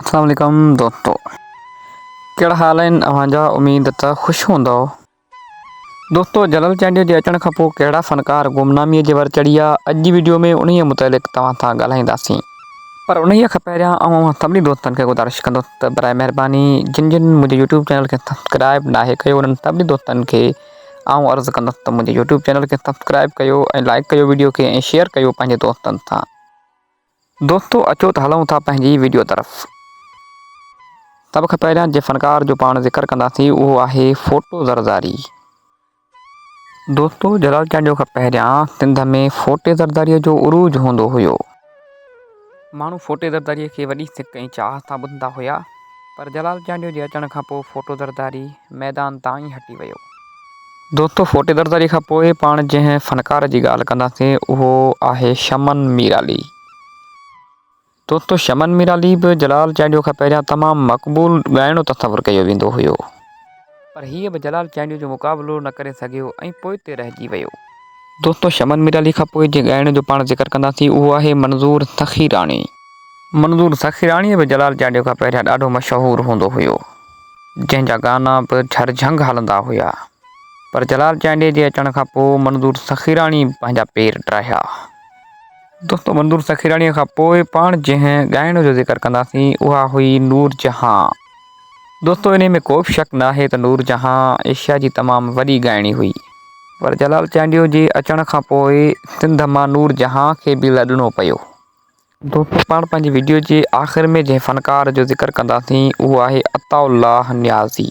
اسلام عليڪم دوستو ڪهڙا حال آهن اوهان جا اميد ته خوش هوندؤ دوستو جلال چانڊيو جي اچڻ کان پوء ڪهڙا فنڪار گمنامي جي ور چڙهيا اڄ جي وڊيو ۾ انهي متعلق توهان سان ڳالهائينداسين پر انهي کان پهريان آئون اوهان سڀني دوستن کي گذارش ڪندس ته براء مهرباني جن جن منهنجي يوٽيوب چينل کي سبسڪرائب ناهي ڪيو انهن سڀني دوستن کي آئون عرض ڪندس ته منهنجي يوٽيوب چينل کي سبسڪرائب ڪيو ۽ لائڪ ڪيو وڊيو کي ۽ شيئر ڪيو پنهنجي دوستن سان دوستو اچو ته هلون ٿا پنهنجي وڊيو طرف. سڀ کان پهريان جنهن فنڪار جو پاڻ ذڪر ڪنداسين اهو آهي ڦوٽو زرداري. دوستو جلال چانڊيو کان پهريان سنڌ ۾ ڦوٽي زرداري جو عروج هوندو هيو. ماڻهو ڦوٽي زرداري کي وڏي سڪ ۽ چاهت سان ٻڌندا هيا پر جلال چانڊيو جي اچڻ کان پوء ڦوٽو زرداري ميدان تان ئي هٽي ويو. دوستو ڦوٽي درداري کان پوء پاڻ جنهن فنڪار جي ڳالهه ڪنداسين اهو آهي شمن ميرالي. دوستو شمن ميرالي به جلال چانڊيو کان پهريان تمام مقبول ڳائڻو تصور ڪيو ويندو هيو. پر هيء به جلال چانڊيو جو مقابلو نه ڪري سگهيو ۽ پوئتي رهجي ويو. دوستو شمن ميرالي کان پوء جنهن ڳائڻي جو پاڻ ذڪر ڪنداسين اهو آهي منظور سخيراڻي. منظور سخيراڻي به جلال چانڊيو کان پهريان ڏاڍو مشهور هوندو هيو. جنهن جا گانا به جھر جھنگ هلندا هيا پر جلال چانڊيي جي اچڻ کان پوء منظور سخيراڻي پنهنجا پير ڊاهيا. دوستو منظور سخيراڻيء کان پوء پاڻ جنهن ڳائڻ جو ذڪر ڪنداسين اها هئي نور جهان. دوستو انهي ۾ ڪوبه شڪ ناهي ته نور جهان ايشيا جي تمام وڏي ڳائڻي هئي پر جلال چانڊيو جي اچڻ کان پوء سنڌ مان نور جهان کي به لڏڻو پيو. دوستو پاڻ پنهنجي ويڊيو جي آخر ۾ جنهن فنڪار جو ذڪر ڪنداسين اهو آهي عطاء الله نيازي.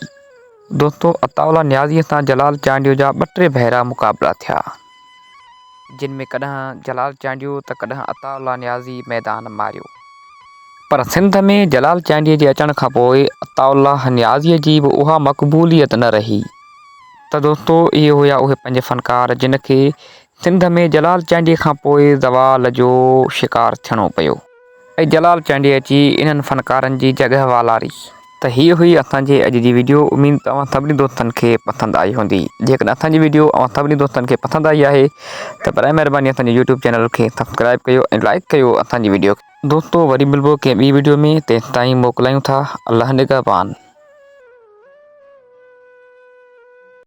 دوستو عطاء الله نيازي سان جلال چانڊيو جا ٻه ٽي ڀيرا مقابلا ٿيا جن ۾ ڪڏهن جلال چانڊيو ته ڪڏهن عطاء الله نيازي ميدان ماريو پر سنڌ ۾ جلال چانڊيي جي اچڻ کان پوء عطاء الله نيازي جي به اها مقبوليت نه رهي ته دوستو اهي هيا اهي پنج فنڪار جن کي سنڌ ۾ جلال چانڊيي کان پوء زوال جو شڪار ٿيڻو پيو ۽ جلال چانڊيي اچي انهن فنڪارن جي جڳهه والاري ته هيء هئي اسان جي اڄ جي ويڊيو اميد ته اوهان سڀني دوستن کي پسند آئي هوندي جيڪڏهن اسان جي ويڊيو اوهان سڀني دوستن کي پسند آئي آهي ته برائي مهرباني اسان جي يوٽيوب چينل کي سبسڪرائيب ڪيو ۽ لائيڪ ڪيو اسان جي ويڊيو کي. دوستو وري ملبو ڪنهن ٻي ويڊيو ۾ تيستائين موڪلايون ٿا الله نگهبان.